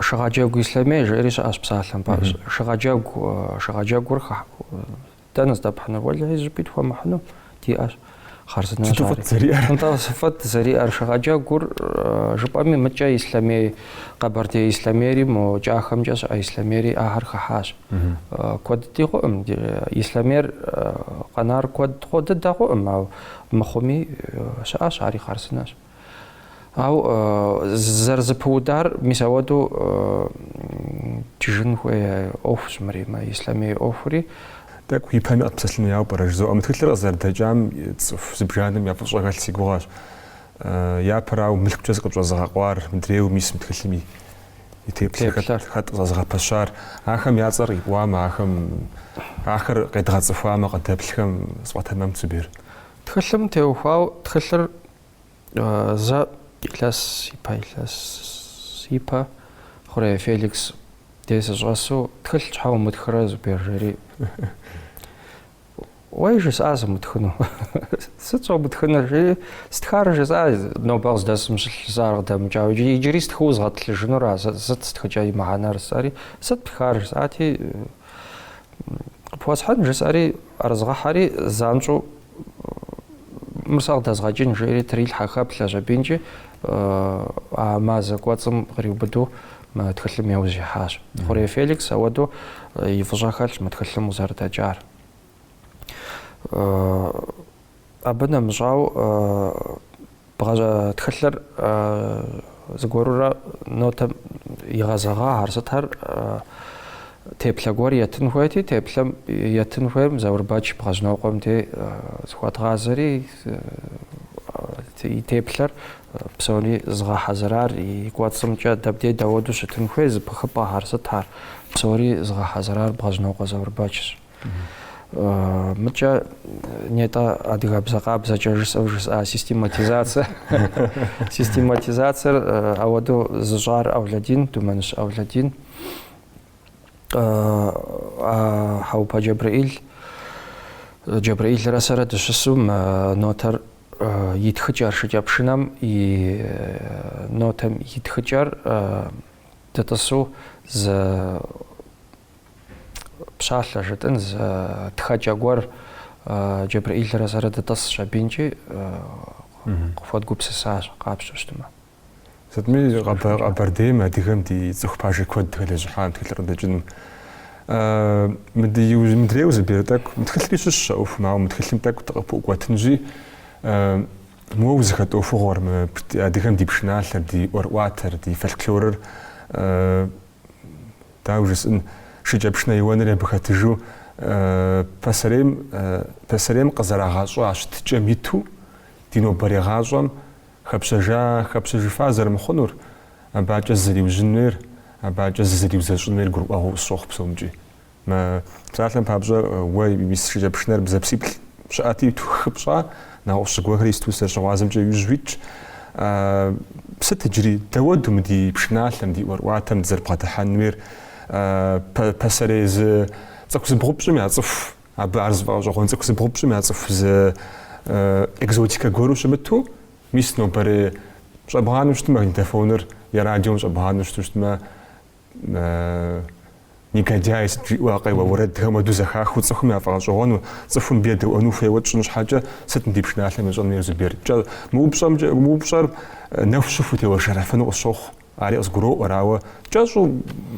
Шыгъэджэгу Ислъэмей жиӏэри щыӏэщ псалъэм. Шыгъэджэгу, шыгъэджэгур Дэнэ здэпхьынур? Уэлэхьи, зыщӏыпӏи тхуэмыхьыну диӏэщ. Хъарзынэщ ари. Сыту фӏыт зэриӏэр? Нтӏэ, фӏыт зэриӏэр. Шыгъэджэгур жыпӏэми, мыкӏэ Ислъэмей, Къэбэрдей Ислъэмейри мо кӏахэмкӏэ щыӏэ Ислъэмейри ахэр хыхьащ. Куэд дыдэ хъуӏым. Ислъэмейр къэнар куэд хъу дыдэ хъуӏым, ауэ мыхъуми щыӏэщ, ари хъарзынэщ. Ау зэрызыпыудар мис ауэдэу джыжын хуей ӏуэхущ мыри, мы ислъэмей ӏуэхури. Тӏэкӏу ипэми къэтпсэлъын хуеяуэ пӏэрэ жызоӏэ? Мы тхылъыр къызэрыдэкӏам цӏыху зыбжанэм я фӏыщӏэ хэлъ си гугъэщ. Япэрауэ, мылъкукӏэ зыкъытщӏэзыгъэкъуар, мыдрейуэ мис мы тхылъым и теплъэр хэт къызэзыгъэпэщар? Ахэм я цӏэр къипӏуамэ, ахэм ахэр къедгъэцӏыхуамэ, къыдэплъхэм сфӏэтэмэмт Зубер. Тхылъым теухуау тхылъыр зэ илъэс ипэ илъэс ипэ хъурей Феликс дей сыщӏэсу тхылъ щхьэ умытхрэ Зубер жери. Уей жысӏа сымытхыну. Сыт щӏомытхынур жи стхар жысӏа нобэ къыздэсым щылъ жысӏар къыдэмыкӏауэ иджыри стхыу згъэтӏылъыжынура сыт стхыкӏэ и мыхьэнэр жысӏэри сыт птхар жысӏати Къыпхуэсхьын, жысӏэри, ӏэрызгъэхьэри, занщӏэу мыр сэ къыдэзгъэкӏын, жери трилъхьэ хэплъэжщ аби икӏи, а мазэ кӏуэцӏым къриубыду мы тхылъым яужь ихьащ. Хъурей Феликс ауэдэу и фӏыщӏэ хэлъщ мы тхылъым къызэрыдэкӏар. Абы нэмыщӏау Бгъэ тхылъыр зыгуэрурэ нотэм игъэзэгъахэр сытхэр теплъэ гуэр етын хуейти, теплъэм етын хуейм Заурбэч Бгъэжьнокъуэм дей зыхуэдгъазэри и теплъэр псори згъэхьэзырар и кӏуэцӏымкӏэ дэбдей дауэду щытын хуей зыпыхыпӏэхэр сытхэр псори зыгъэхьэзырар Бгъэжьнокъуэ Заурбэчщ. Мыкӏэ нетӏэ адыгэбзэ къабзэкӏэ жысӏэу жысӏа систематизацэ. Систематизацэр ауэдэу зыщӏар Авладин, Думэныщ Авладин. Хьэӏупэ Джэбрэӏил, Джэбрэӏилрэ сэрэ дыщысу нотэр и тхыкӏэр шыкӏэпшынэм и нотэм и тхыкӏэр дытӏысу зы пщалъэ жытӏэн зы тхэкӏэ гуэр Джэбрэӏилрэ сэрэ дытӏысщ абинкӏи къыхуэдгупсысащ къапщтэу щытмэ. Сытми Къэбэрдейм адыгэм ди цӏыху пажэ куэд хэлэжьыхьа тхылъыр къыдэкӏыным. Мыдрейуэ Зубер тӏэкӏу, мы тхылъри щыщщ а ӏуэхум, ауэ мы тхылъым тӏэкӏу дыкъыпыӏукӏуэтынщи, моуэ узыхэт ӏуэхугъуэр, мы адыгэм ди пшыналъэр, ди ӏуэрыӏуатэр, ди фольклорыр Дауэ жысӏэн, шыкӏэпшынэ еуэнри абы хэтыжу пасэрейм, пасэрейм къызэрагъэщӏа щытыкӏэм иту ди нобэрей гъащӏэм хэпщэжа, хэпщэжыфа зэрымыхъунур, абы адэкӏэ зызэриужьын хуейр, абы адэкӏэ зызэриузэщӏын хуейр гурыӏуэгъуэу къысщохъу псомкӏи. Мы псалъэм папщӏэ уэ мис шыкӏэпшынэр бзэпсиплӏ щыӏэти, тхыпщӏа, нэгъуэщӏ зыгуэрхэр исту зэрыщыгъуазэмкӏэ иужь уитщ. Сыт иджыри? Дэуэду мы ди пшыналъэм, ди ӏуэрыӏуатэм дызэрыбгъэдыхьэн хуейр пасэрей зы цӏыху зыбгъупщӏым яцӏыху, абы ар зыфӏэгъэщӏэгъуэн цӏыху зыбгъупщӏым яцӏыху зы экзотикэ гуэру щымыту, мис нобэрей щӏэбгъанэу щытмэ, магнитофоныр е радиом щӏэбгъанэу щыту щытмэ, Негодяй сыт жиӏэу а къеуэ уэрэдхэм хуэду зэхахыу цӏыхум яфӏэгъэщӏэгъуэну, цӏыхум абы едэӏуэну хуейуэ тщӏын щхьэкӏэ сыт мы ди пшыналъэм ещӏэн хуейр, Зубер? Кӏэ, мы упщӏэмкӏэ, мы упщӏэр нэху щыху утеуэршэрыфыну къысщохъу, ари къызгуроӏуэр, ауэ кӏэщӏу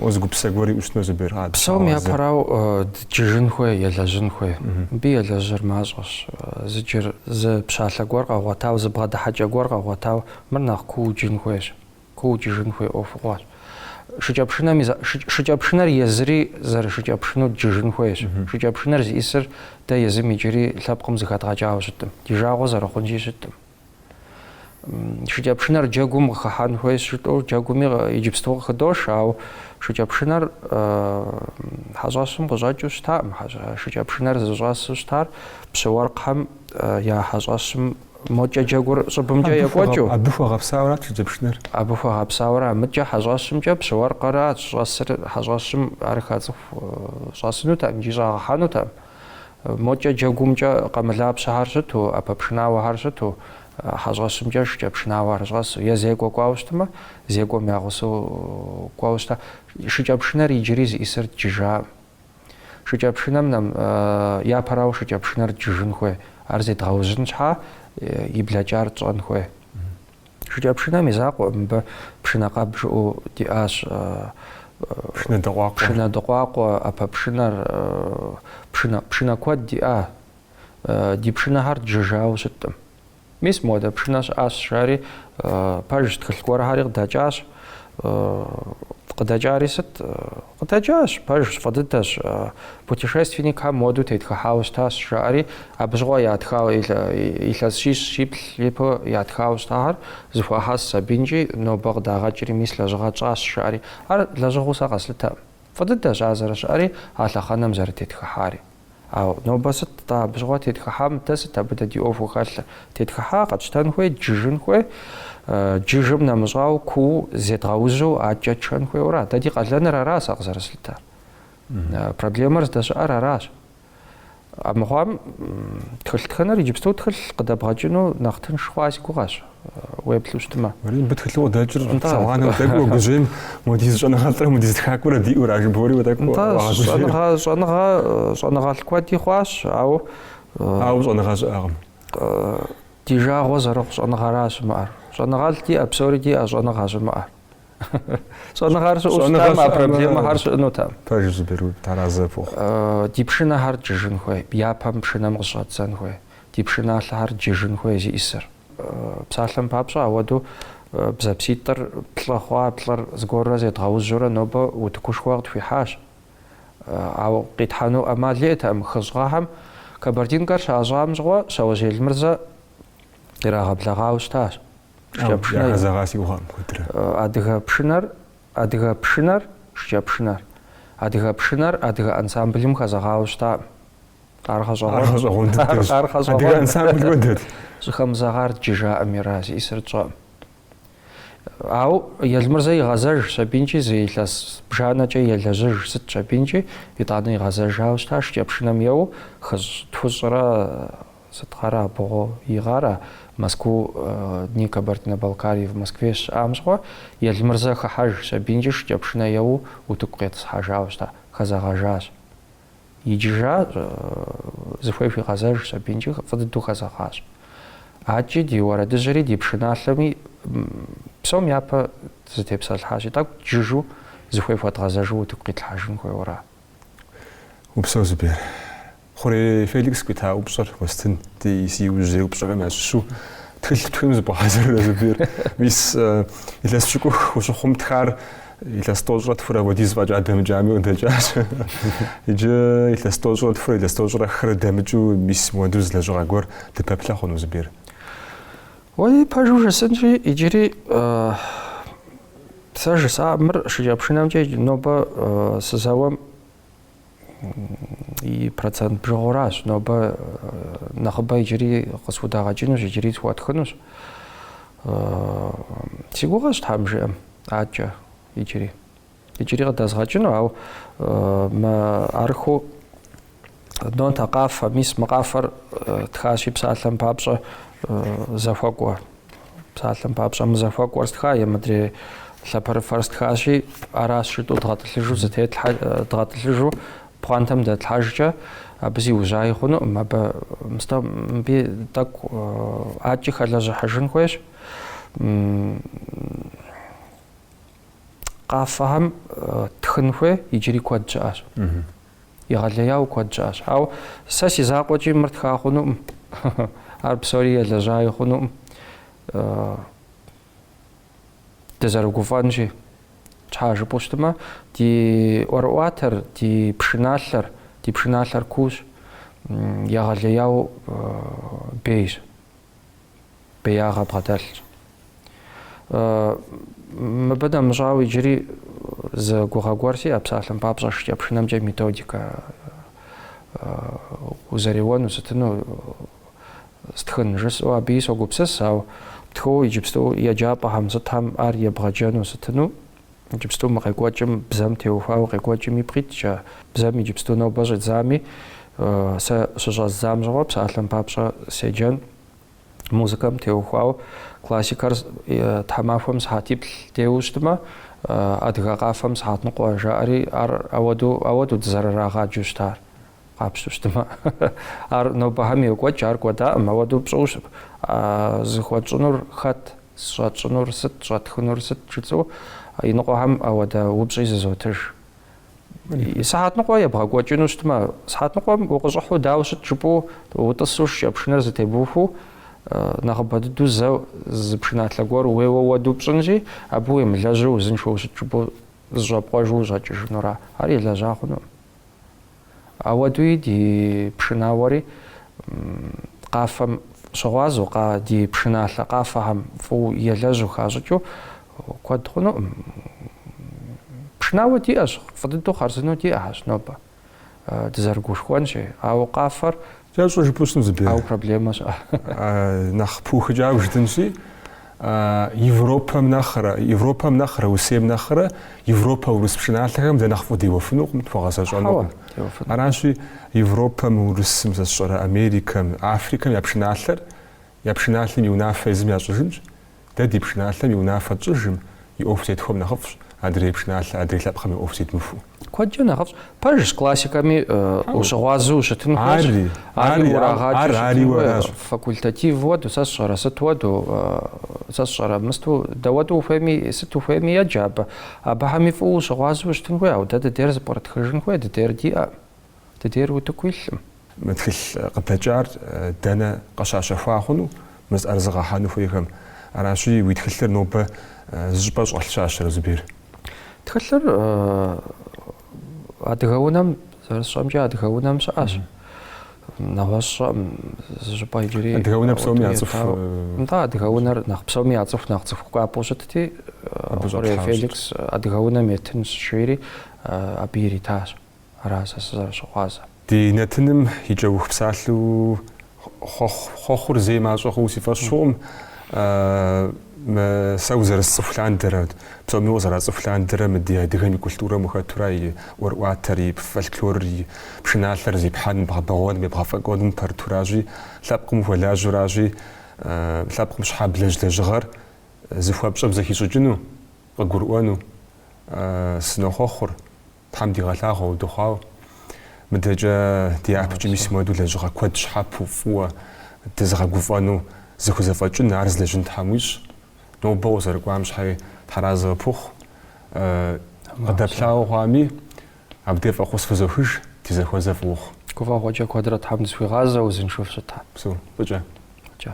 уэ зы гупсысэ гуэр уиӏэу щытыну, Зубер. Псом япэрау дджыжын хуей, елэжьын хуей. Мыбы елэжьыр мащӏэщ. Зы джыр, зы пщалъэ гуэр къэгъуэтау, зы бгъэдыхьэкӏэ гуэр къэгъуэтау мыр нэхъ кууэ джын хуейщ. Кууэ джыжын хуей ӏуэхугъуэщ. Шыкӏэпшынэми за, шы, шыкӏэпшынэр езыри зэрышыкӏэпшыну дджыжын хуейщ. Шыкӏэпшынэр зищӏысыр дэ езым иджыри лъэпкъым зэхэдгъэкӏауэ щытӏым, ди жагъуэ зэрыхъунщи щытӏым. Шыкӏэпшынэр джэгум къыхыхьэн хуейщ жытӏэу, джэгуми иджыпсту къыхыдош, ауэ шыкӏэпшынэр хьэщӏэщым къыщӏэкӏыу щытакъым. Шыкӏэпшынэр зыщӏэсу щытар пщы уэркъхэм я хьэщӏэщым Мокӏэ джэгур щӏыбымкӏэ екӏуэкӏыу? Абы хуэгъэпсауэрат шыкӏэпшынэр. Абы хуэгъэпсауэра, мыкӏэ хьэщӏэщымкӏэ пщы уэркъырат щӏэсыр хьэщӏэщым ар хэт цӏыху щӏэсынутэм икӏи щӏагъэхьэнутэм. Мокӏэ джэгумкӏэ къэмылапщэхэр щыту, ӏэпэпшынауэхэр щыту, хьэщӏэщымкӏэ шыкӏэпшынауэхэр щӏэсу, е зекӏуэ кӏуауэ щытмэ, зекӏуэм я гъусэу кӏуэу щыта. Шыкӏэпшынэр иджыри зищӏысыр джыжаӏым. Шыкӏэпшынэм нэм, япэрауэ шыкӏэпшынэр джыжын хуей, ар зедгъэужьын щхьа и блэкӏар тщӏэн хуей. Шыкӏэпшынэм и закъуэкъым, мыбы пшынэкъэб жыӏэу диӏащ, пшынэдыкъуакъуэ, ӏэпэпшынэр, пшынэ, пшынэ куэд диӏа, ди пшынэхэр джыжауэ щыткъым. Мис модэ пшынэ щыӏащ, жаӏэри, пэжщ, тхылъ гуэрхэри къыдэкӏащ. Къыдэкӏари сыт? Къыдэкӏащ, пэжщ, фӏы дыдэщ. Путешественникхэм модэу тетхыхьауэ щытащ, жаӏэри, абы щыгъуэ ятхауэ илъэс щищ щиплӏ ипэ ятхауэ щытахэр зыхуахьэсщ абинкӏи нобэ къыдагъэкӏри, мис лэжьыгъэ тщӏащ, жаӏэри. Ар лэжьыгъэу сэ къэслъытэкъым. Фӏы дыдэщ ар зэрыщыӏэри, а лъэхъэнэм зэрытетхыхьари. Ауэ нобэ сыт-тӏэ абы щыгъуэ тетхыхьам дэ, сыт абы дэ ди ӏуэхуу хэлъыр? Тетхыхьа, къэтщтэн хуей, джыжын хуей, джыжым нэмыщӏауэ куууэ зедгъэужьу адэкӏэ тшэн хуейуэра? Дэ ди къалэныр аращ сэ къызэрыслъытэр. Проблемэр здэщыӏэр аращ. Амыхъуам тхылъ тхыныр иджыпсту тхылъ къыдэбгъэкӏыну нэхъ тынш хъуа си гугъэщ. уеплъу щытмэ. Уэри мыбы тхылъу къыдэкӏыр псауанэу тӏэкӏу уогужьей, модиз щӏэныгъэлӏрэ модиз тхакӏуэрэ диӏэу ара жыбоӏэри тӏэкӏу уагъэгужьей. Щӏэныгъэ щӏэныгъэ щӏэныгъэлӏ куэди хъуащ, ауэ ауэ щӏэныгъэ щыӏэкъым. Ди жагъуэ зэрыхъу щӏэныгъэра щымыӏэр. Щӏэныгъэлӏ диӏэ, псори диӏэ, щӏэныгъэ щымыӏэр. Щӏэныгъэр щыӏэу щытам а проблемэхэр щыӏэнутэкъым. Пэжщ, Зубер, уэ таразэ фохъу. Ди пшынэхэр джыжын хуей, япэм пшынэм къыщӏэддзэн хуей, ди пшыналъэхэр джыжын хуей зиӏисыр. Псалъэм папщӏэ, ауэдэу бзэпситӏыр плӏы хъуа плӏыр зыгуэрурэ зедгъэужьурэ нобэ утыкушхуэ къытхуихьащ. Ауэ къитхьэну ӏэмал иӏэтэкъым. Хыщӏ гъэхэм Кабардинкэр щащӏам щыгъуэ Щауэжь Елмырзэ ирагъэблэгъауэ щытащ. Яхэзэгъа си гугъэкъым куэдрэ. Адыгэ пшынэр, адыгэ пшынэр, шыкӏэпшынэр. Адыгэ пшынэр адыгэ ансамблым хэзэгъауэ щытакъым. Ар гъэщӏэгъуэн. Ар гъэщӏэгъуэн дыдэщ. Ар гъэщӏэгъуэн. Адыгэ ансамбль уэдэт. Щӏыхэмызэгъар дджы жаӏэм ар зиӏисыр тщӏэӏым. Ауэ Елмырзэ игъэзэжщ абинкӏи зы илъэс бжанэкӏэ елэжьыжщ, сытщ абинкӏи, итӏанэ игъэзэжауэ щыта, шыкӏэпшынэм еуэу, хыщӏ тхущӏрэ сыт гъэра, бгъу, и гъэра, Москву дни Кабардино-Балкарии в Москве щыӏам щыгъуэ, Елмырзэ хыхьэжщ абинкӏи шыкӏэпшынэ еуэу утыку къетӏысхьэжауэ щыта, хэзэгъэжащ. Иджыжащ, зыхуей хуигъэзэжщ абинкӏи фӏы дыдэу хэзэгъащ. Адэкӏи ди уэрэдыжьри ди пшыналъэми псом япэ зытепсэлъхьащи, тӏэкӏу джыжу зыхуей хуэдгъэзэжу утыку къитлъхьэжын хуейуэра? Упсэу, Зубер. Хъурей Феликс къуита упщӏэр уэстын, ди си иужьрей упщӏэхэм ящыщу тхылъ птхыну зыбгъэхьэзыррэ, Зубер? Мис, илъэс пщыкӏух ущыхъум, тхар. Илъэс тӏощӏрэ тхурэ хуэдиз фӏэкӏа дэмыкӏами къыдэкӏащ. Иджы илъэс тӏощӏрэ тхурэ, илъэс тӏощӏрэ хырэ дэмыкӏыу мис мыуэду зы лэжьыгъэ гуэр дыпэплъэ хъуну Зубер? Уэи, пэжу жысӏэнщи, иджыри сэ жысӏа мыр шыкӏэпшынэмкӏэ нобэ сызэуэм и процент бжыгъэ гуэращ нобэ нэхъыбэ иджыри къысхудагъэкӏынущ иджыри схуэтхынущ си гугъэщ тхьэм жиӏэм акӏэ иджыри иджыри къыдэзгъэкӏыну ауэ мы арху нотэ къафэ мис мы къафэр тхащи псалъэм папщӏэ зэхуэкӏуэ Псалъэм папщӏэ, мы зэхуэкӏуэр стха е мыдрей лъапэрыфэр стхащи, аращ жытӏу дгъэтӏылъыжу зытетлъхьэ, дгъэтӏылъыжу пхъуантэм дэтлъхьэжкӏэ, абы зиужьаи хъунукъым, абы мыстэ мыби тӏэкӏу акӏи хэлэжьыхьыжын хуейщ. Къафэхэм тхын хуей иджыри куэд щыӏэщ. Егъэлеяуэ куэд щыӏэщ. Ауэ сэ си закъуэкӏи мыр тха хъунукъым. Ар псори елэжьаи хъунукъым. Дызэрыгуфӏэнщи, щхьэ жыпӏэу щытмэ, ди ӏуэрыӏуатэр, ди пшыналъэр, ди пшыналъэр куущ, егъэлеяуэ бейщ. беягъэ бгъэдэлъщ. Мыбы дэмыщӏауэ иджыри зы гугъэ гуэр сиӏэ псалъэм папщӏэ шыкӏэпшынэмкӏэ методикэ узэреуэну сытыну стхын жысӏэу абыи согупсыс, ауэ птхыуэ иджыпсту еджапӏэхэм сытхэм ар ебгъэджэну сытыну иджыпсту мы къекӏуэкӏым бзэм теухуауэ къекӏуэкӏым ипкъ иткӏэ, бзэм иджыпсту нобэ щӏидзами, сэ щыщӏэздзам щыгъуэ псалъэм папщӏэ седжэн, музыкэм теухуауэ классикэр тхьэмахуэм сыхьэтиплӏ деуэу щытмэ, адыгэ къафэм сыхьэтныкъуэ жаӏэри, ар ауэду, ауэду дызэрырагъаджэу щытар. Къапщту щытмэ, ар нобэхэм йокӏуэкӏ, ар кӏуэдакъым, ауэдэу пщӏыу щыт. А зыхуэтщӏынур хэт, щӏэтщӏынур сыт, щӏэтхынур сыт жысӏэу иныкъуэхэм ауэдэ упщӏи зызотыж. Сыхьэтныкъуэ ебгъэкӏуэкӏыну щытмэ, сыхьэтныкъуэм укъыщӏыхьу дауэ ущыт жыпӏэу утӏысу шыкӏэпшынэр зэтебухуэу, нэхъыбэ дыдэу зэ зы пшыналъэ гуэр уеуэ уэду пщӏынщи, абы уемылэжьу узыншэу щыт жыпӏэу зэщӏэпкъуэжу ущӏэкӏыжынура? Ар елэжьа хъуну. Ауэдуи ди пшынауэри къафэм щыгъуазэу, ди пшыналъэ къафэхэм фӏыуэ елэжьу хащӏыкӏыу куэд хъунукъым. Пшынауэ диӏэщ, фӏы дыдэу хъарзынэу диӏэщ нобэ, дызэрыгушхуэнщи, ауэ къафэр Сэ щӏы жыпу сну Зубер. Ау проблемэщ. Нахъ пухыкӏау жытӏэнщи, Европэм нэхърэ, Европэм нэхърэ, Урысейм нэхърэ Европэ урыс пшыналъэхэм дэ нэхъ фӏыуэ деуэфынукъым, тхуэгъэзэщӏэнукъым. Аращи, Европэм, Урысым, сэ сщӏэрэ Америкэм, Африкэм я пшыналъэр Я пшыналъэм и унафэ езым ящӏыжынщ, дэ ди пшыналъэм и унафэ тщӏыжым и ӏуэху зетхуэм нэхъыфӏщ адрей пшыналъэ, адрей лъэпкъым и ӏуэху зедмыхуэу. Куэдкӏэ нэхъыфӏщ. Пэжщ, классикэми ущыгъуазэу ущытын хуейщ. Ари, ари, ар ариуэ аращ. Факультатив хуэдэу, сэ сщӏэрэ, сыт хуэдэу, сэ сщӏэрэ, мысту, дауэдэу ухуейми, сыт ухуейми еджэ абы. Абыхэми фӏыуэ ущыгъуазэу ущытын хуей, ауэ дэ дыдейр зэпкърытхыжын хуей, дыдейр диӏэ. Дыдейр утыку илъкъым. Мы тхылъ къыдэкӏар дэнэ къыщащэхуа хъуну мы зыӏэрызыгъэхьэну хуейхэм? Аращи, уи тхылъыр нобэ зы щӏыпӏэ щӏэлъ щащэрэ, Зубер? Тхылъыр адыгэ унэм, зэрысщӏэмкӏэ, адыгэ унэм щыӏэщ. Нэгъуэщӏ сщӏэкъым зы щӏыпӏэ иджыри. Адыгэ унэр псоми яцӏыху. Нтӏэ, адыгэ унэр нэхъ псоми яцӏыху, нэхъ цӏыху кӏуапӏэу щытти, Хъурей Феликс адыгэ унэм еттынщ жери, абы иритащ. Ара сэ сызэрыщыгъуазэр? Ди нэтыным и кӏэух псалъэу хъуэхъур зэи мащӏэ хъууэ си фӏэщ хъукъым. Сэ узэрысцӏыху лъандэрэ, псоми укъызэрацӏыху лъандэрэ мы ди адыгэм и культурэм ухэтурэ и ӏуэрыӏуатэр, и фольклорыр, и пшыналъэр зепхьэным, бгъэбэгъуэным, ебгъэфӏэкӏуэным упэрытуращи, лъэпкъым ухуэлажьэуращи, лъэпкъым щхьэ блэжь лэжьыгъэр зыхуэпщӏэм зэхищӏыкӏыну, къыгурыӏуэну сынохъуэхъур. Тхьэм дигъэлъагъуэ удэхъуауэ. Мыдэкӏэ ди япэкӏэ мис мыуэду лэжьыгъэ куэд щхьэпэу фӏыуэ дызыгъэгуфӏэну зыхузэфӏэкӏын, ар зылэжьын Тхьэм уищӏ. Нобэ укъызэрыкӏуам щхьэи тхьэразэ къыпхухъу. Къыдэплъауэ хъуами, абдей фӏэхъус фызохыж, ди зэхуэзэ фӏы ухъу. Гуфӏэгъуэкӏэ куэдрэ Тхьэм дызэхуигъазэ, узыншэу фыщытхэ. Упсэу, фӏыкӏэ. Фӏыкӏэ.